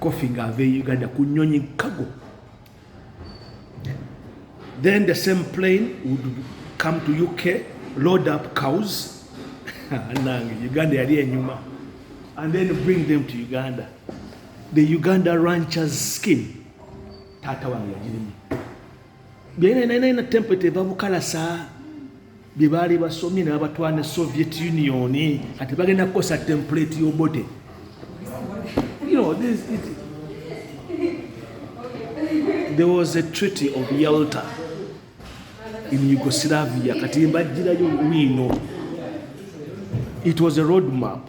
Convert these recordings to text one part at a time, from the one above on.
Kofi ng'ava e Uganda ku nnyonyi cargo. Then the same plane would come to UK, load up cows. Nange Uganda yali enyuma. And then bring them to Uganda. The Uganda rancher's skin. Tata wange yagirimu. byeneneneina temple tebabukalasa bye baali basomye ne babatwala ne soviet union kati bagenda kukosa template yobote you know, this, it, there was a treaty of yalta in yugoslavia kati mbajjirayo wiino it was a road map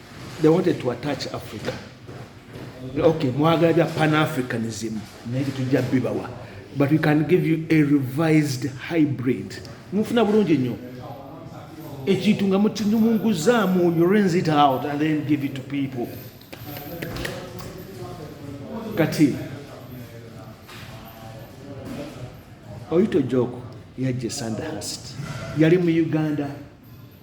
they wanted to attach africa okay mwagala bya pan africanism naye tetujja bibawa but we can give you a revised hybrid mufuna bulungi nnyo ekintu nga mukinyumunguzaamu you rinse it out and then give it to people kati oyita ojoko yajja sandahast yali mu uganda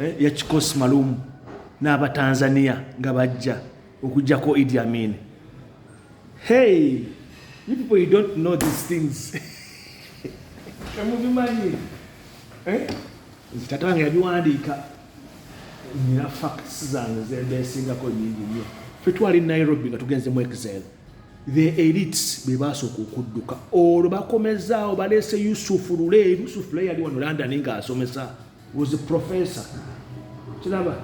eh, ya kikosi malumu n'abatanzania nga bajja okujjako idi amin hey you people you don't know these things temubimanyi eh? nze tata wange yabiwandiika nina facts zange zembeesingako nyingi nyo fe twali nairobi nga tugenze mu exile the elites be basooka okudduka olwo bakomezaawo baleese yusufu lule yusufu lule yali wano london ng'asomesa was a professor kiraba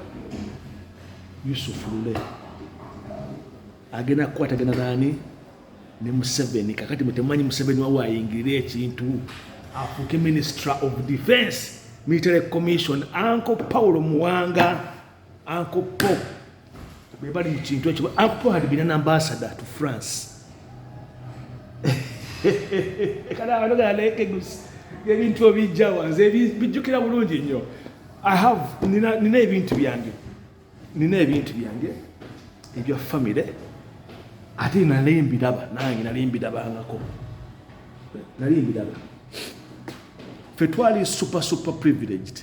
yusuf lule agenda kukwatagana nani ne museveni kakati mutemanyi museveni wawe ayingirire ekintu afuuke minister of defense military commission anko paulo muwanga Uncle Paul bwe bali mu kintu ekyo. Uncle Paul had been an ambassador to France. Kana abantu gala leke gusi ebintu obijja wanze bijjukira bulungi nnyo. I have nina nina ebintu byange. Nina ebintu byange ebya family ate nali mbiraba nange nali mbirabangako nali mbiraba fe twali super super privileged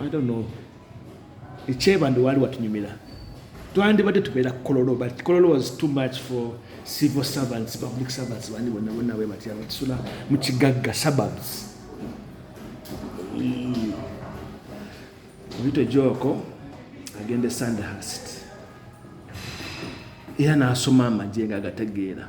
I don't know ekyeba ndi waali watunyumira twandibadde tubeera kololo but kololo was too much for civil servants public servants bandi bonna bonna bwe batya batusula mu kigagga suburbs oyita ejoko agenda e sandhurst era n'asoma amagye nga agategeera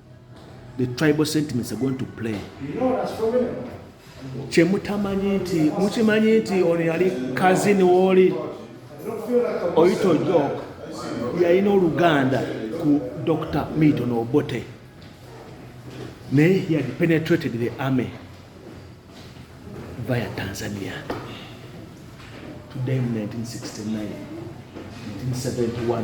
the tribal sentiments are going to play kyemutamanyi nti mukimanyi nti ono yali kazini wooli oyita ojok yalina oluganda ku dr milton obote naye he had penetrated the army via tanzania today 1969 1971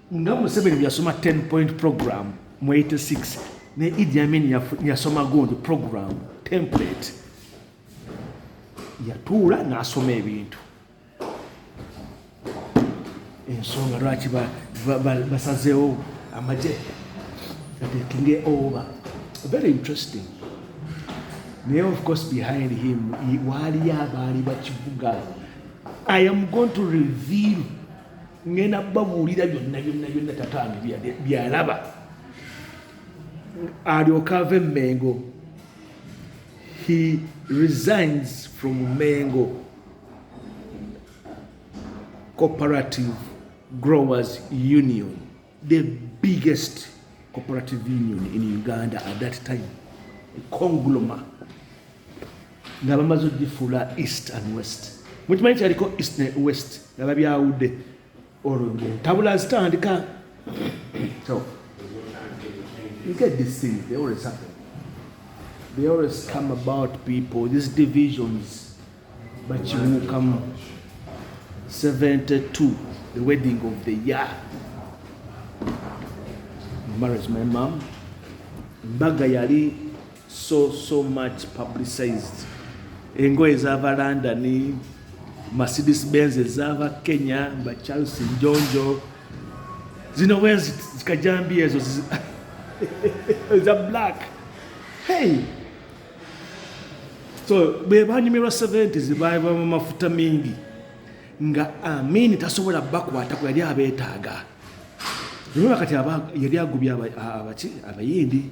nga museveni byasoma 10 point program mu 86 ne idi amin yasoma gundi program template yatuula nasoma ebintu ensonga lwaki basazeewo amagye atekinge oba very interesting naye of course behind him waaliyo abaali bakivuga i am going to reveal ngenda babuulira byonna byonna byonna tata wange byalaba alyoka ava emmengo he resigns from mengo cooperative growers union the biggest cooperative union in uganda at that time congloma nga bamaze ogifuula east and west mukimanyi kyaliko east ne west nga babyawudde olwo ntabula zitandika so you get this thing they always happen they always come about people these divisions bakibuukamu 72 the wedding of the year marriage my mom mbaga yali so so much publicized engoye zava london mercedes benz ezava kenya ba charles njonjo zino bwezi zikajambi ezo eza black hey so bwebanyumirwa 70 zibaibwa mu mafuta mingi nga amini tasobola bakwata ku yali abetaaga noba kati yali agubya abaki abayindi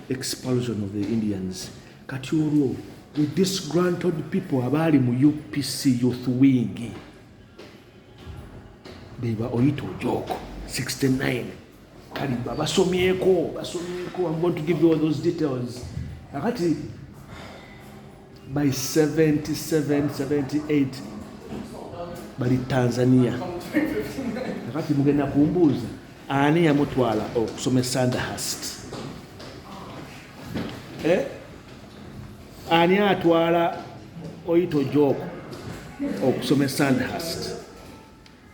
expulsion of the indians kati olwo the disgranted people abaali mu upc youth wing beba oyita ojoko 69 kale basomyeko basomyeko i'm going to give you all those details akati by 77 78 bali tanzania akati mugenda kumbuuza ani yamutwala okusoma esandahast eh? ani atwala oyito jooko okusoma esandahast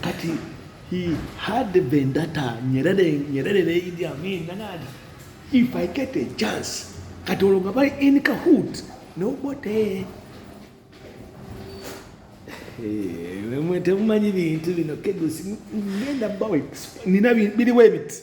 kati he had the vendetta nyerere nyerere ne idi amin nanadi if i get a chance kati olwo nga bali in kahoot nobote temumanyi bintu bino kegusi ngenda bawa nina biriwo ebiti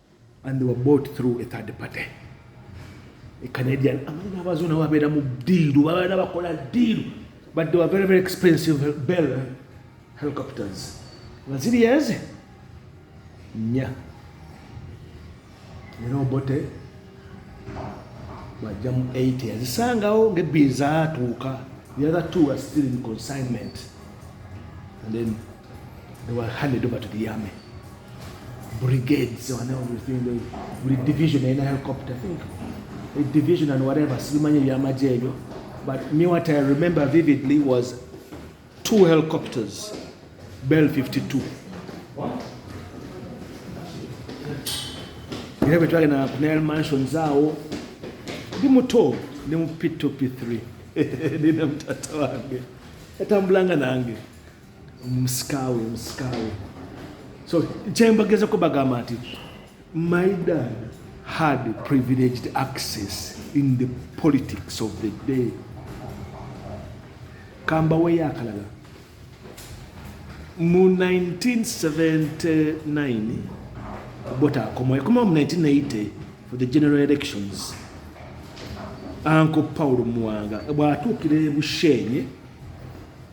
and they were bought through a third party a canadian amanyi abazo nabo babeera mu diiru babeera bakola diiru but they were very very expensive bell helicopters nga ziri eze nnya era obote bajja mu 8 yazisangawo ngebbi zaatuuka the other two are still in consignment and then They were handed over to the army. Brigades and everything. They, buli division in a helicopter, I think. A division and whatever. Simanyi byamaje ebyo. But me what I remember vividly was two helicopters, Bell 52. era bwe twagenda ku nile mansions awo ndi muto ne mu p2 p3 nina mutata wange yatambulanga nange musikawe musikawe so kyembagezako bagamba nti my dad had privileged access in the politics of the day kambaweyo akalala mu 1979 bota akomawo yakomawo mu 1980 for the general elections anko paulo muwanga bwatuukira ebushenye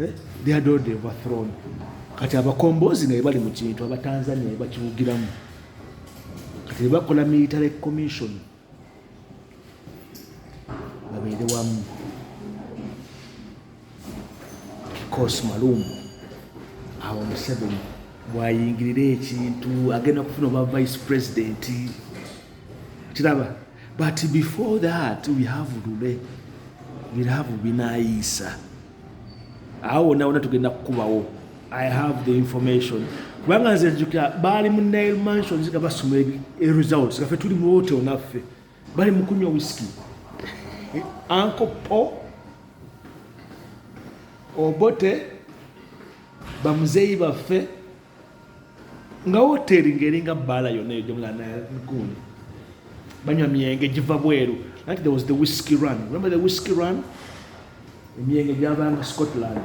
Eh, they had already overthrown kati abakombozi naye bali mu kintu abatanzania bebakiwugiramu kati bebakola military commission babeere wamu kikos malumu awo museveni bwayingirira ekintu agenda kufuna oba vice president kiraba but before that we have lule birabu binayiisa awo wonna wonna tugenda kukubawo i have the information kubanga nze nzukira baali mu nile mansions nga basoma results nga fe tuli mu hotel naffe bali mu kunywa whisky anko po obote bamuzeeyi baffe nga woteeri ng'eringa bbaala yonna eyo gyemulanagundi banywa myenge giva bweru like there was the whisky run remember the whisky run emyenge gyavanga scotland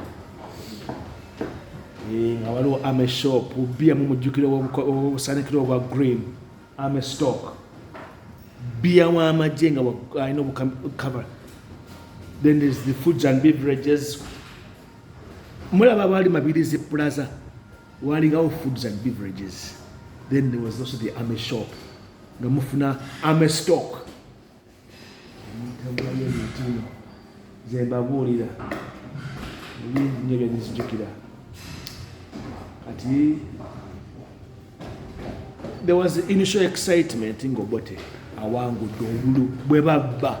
eh, nga waliwo ame shop bia mumujjukire obusanikire obwa green ame stock bia wamagye nga alina obucover then there's the foods and beverages mulaba baali mabirizi plaza walingawo foods and beverages then there was also the army shop nga mufuna army stock zembabuulira nyo byanizijukira kati there was initial excitement ngobote awangudde obulu bwe babba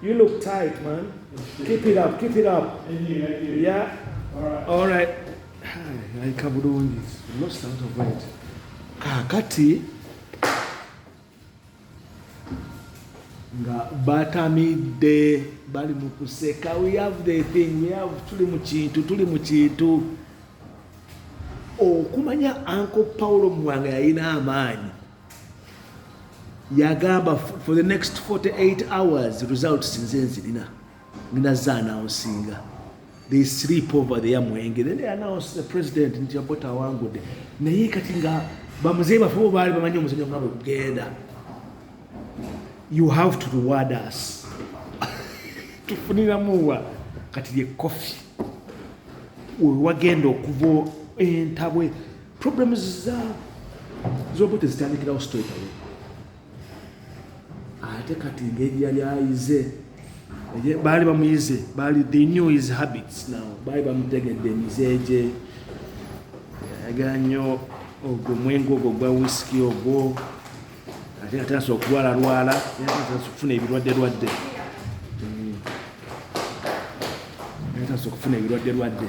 You look tight, man. Keep it up, keep it up. Yeah. All right. Like Kabudon is lost out of weight. Kakati. nga batamidde bali mu kuseka we have the thing we have tuli mu kintu tuli mu kintu okumanya anko paulo muwanga yalina amaanyi yagamba for the next 48 hours results nze nzirina nginaza anaunsinga they sleep over there mwenge then they announce the president nti abota awangude naye kati nga bamuzeyi bafe bo baali bamanyi omuzanyo nga bwegugenda you have to reward us tufuniramuwa kati lye kofi wewagenda okuva entabwe Problems za z'obote zitandikirawo straight away ate kati ngeri yali ayize baali bamuyize baali they knew his habits now baali bamutegedde emize gye ayagala nnyo ogwo omwenge ogwo gwa wisiki ogwo ate nga tandisa okulwalalwala tandisa okufuna ebirwadde lwadde tandisa okufuna ebirwadde lwadde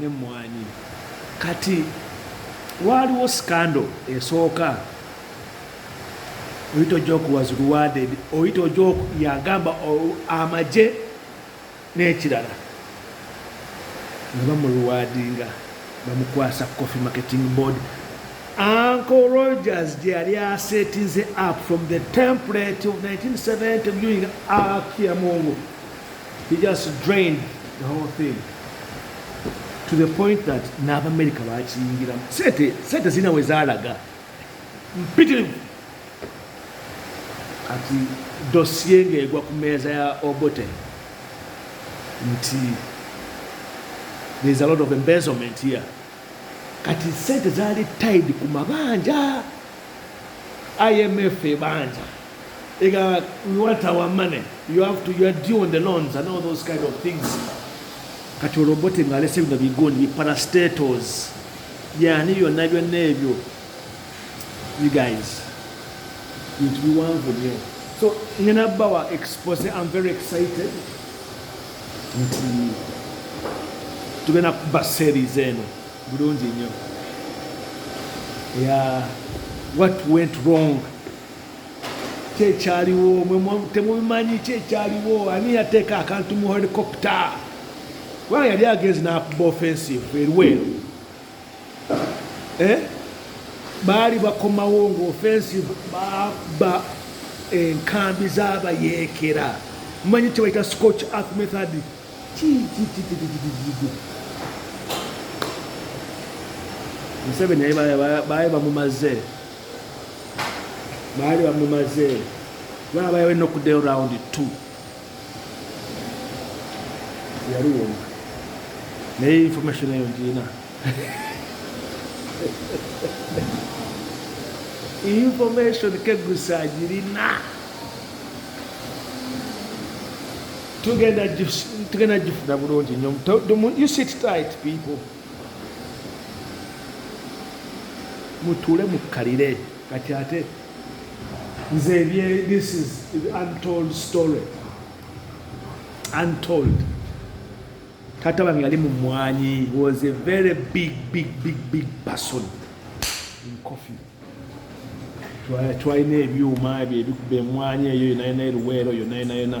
n'emmwanyi. Kati waaliwo scandal esooka Oita Ojok was rewarded, Oita Ojok yagamba amagye n'ekirala nga bamuruwadinga bamukwasa coffee marketing board Uncle Rogers gye yali asetinze up from the template of 1970 viewing Akiamungu He just drained the whole thing to the point that n'abamerika bakiyingiramu sente sente zirina we zaalaga mpitirivu ati dosiye ng'egwa ku meeza ya obote nti there's a lot of embezzlement here kati sente zaali tied ku mabanja imf ebanja Ega, we want our money. You have to, you are due on the loans and all those kind of things. Kati olobote nga alese bino bigundi bi parastatos. Yani byonna byonna ebyo. You guys. Bintu biwanvu nnyo. So ngena bawa expose I'm very excited. Nti tugenda kuba series eno bulungi nnyo. Yeah. What went wrong? ki ekyaliwo temubimanyi ki ekyaliwo ani yateeka akantu mu helicopta kubanga yali agenzi nakuba offensive erweru eh? baali bakomawo nga offensive baba enkambi zabayeekera mumanyi kyebayita scotch earth method museveni baye bamumaze baali bamumaze baba bayawe nokuddayo round t yali wona naye information eyo ngiina information kegusa agirina tugenda gifuna bulungi nyo you sit tight people mutuule mukkalire kati ate nze ebye this is untold story untold taata wange yali mumwanyi was a very big big big big person in coffee twalina ebyuma ebyo ebikuba emwanyi eyo yonayona eruweero yonayonayona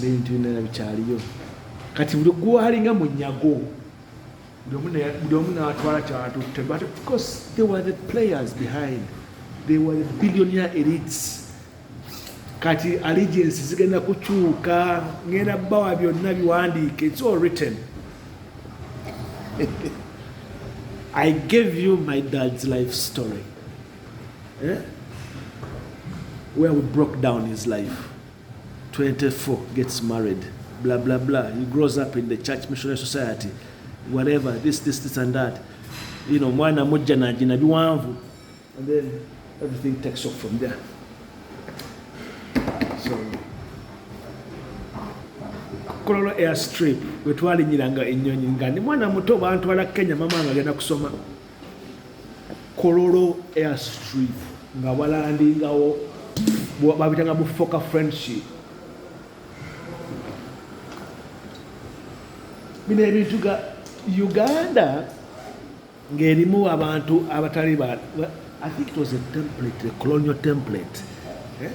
n'ebintu binala bikyaliyo kati buli gwalinga munyago buli omu natwala kyatutte but of course they were the players behind they were the billionaire elites kati allegiance zigenda kukyuka ngenda bawa byonna biwandiike it's all written i gave you my dad's life story eh? where we broke down his life 24 gets married blah blah blah he grows up in the church missionary society whatever this this this and that you know mwana mujja najina biwanvu and then everything takes off from there so kololo airstrip wetwalinyiranga enyonyi nga ndi mwana muto bantwala kenya mama nga agenda kusoma kololo airstrip nga balandingawo babitanga bufoka friendship bino ebintu ga uganda ng'erimu abantu abatali ba i think it was a template a colonial template eh?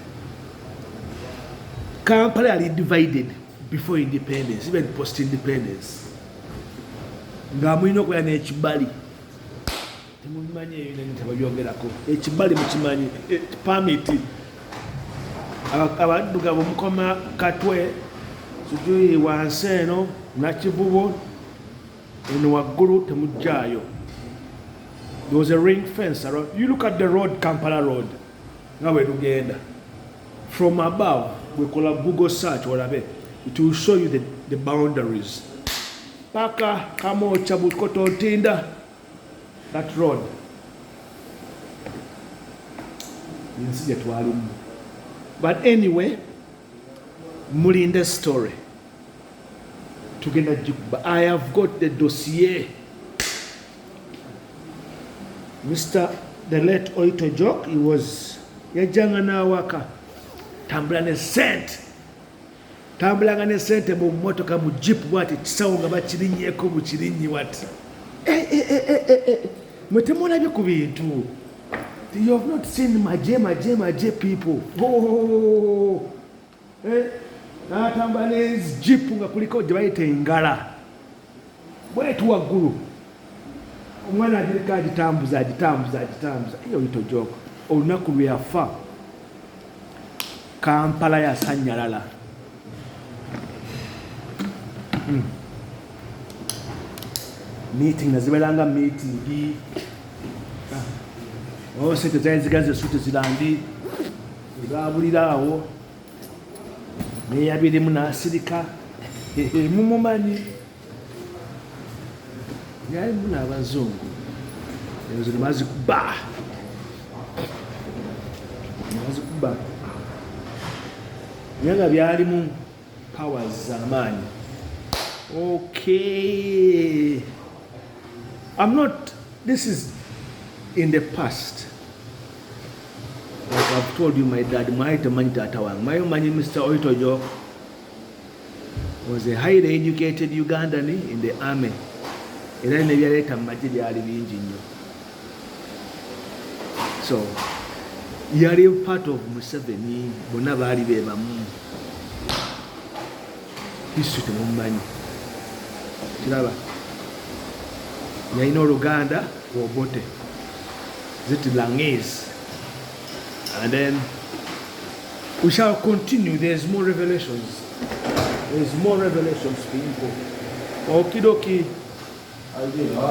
kampala yali divided before independence even post independence nga mulina okubeera n'ekibali temubimanyi eyo nani tebabyogerako ekibali mukimanyi e, pamiti abaddugavu mukoma katwe sijui wansi eno nakivubo eno waggulu temujjaayo there was a ring fence around you look at the road kampala road nga bwe lugenda from above bwekola google search olabe it will show you the, the boundaries paka kamocha bukoto ntinda that road ensi gye twalimu but anyway mulinde story tugenda gikuba i have got the dossier Mr. The late Oito Jok, he was yajjanga n'awaka tambula ne sente tambulanga ne sente mu motoka mu jipu bwati kisawo nga bakirinyeko mu kirinyi wati eh, eh, eh, mwe temulabye ku bintu you have not seen maje maje maje people oh. eh, n'atambula n'enzijipu nga kuliko gye bayita engala bwetu waggulu omwana agiriko agitambuza agitambuza agitambuza eyo yitojoka olunaku lwe yafa kampala yasanyalala hmm. meeting naziberanga meeting ah. oh, sente zali zigazi esuti zirandi Zaabulira awo neyabirimu n'asirika mumumanyi yalimu n'abazungu ezo nebazikuba nebazikuba naye nga byalimu powers za maanyi okay i'm not this is in the past like i've told you my dad mwali temanyi taata wange mwali omanyi mr oitojo was a highly educated ugandan in the army era nebyaleeta mu magye byali bingi nnyo so yali part of museveni bonna baali bebamu history temumanyi kiraba yalina oluganda obote zit langese and then we shall continue there's more revelations there's more revelations people okidoki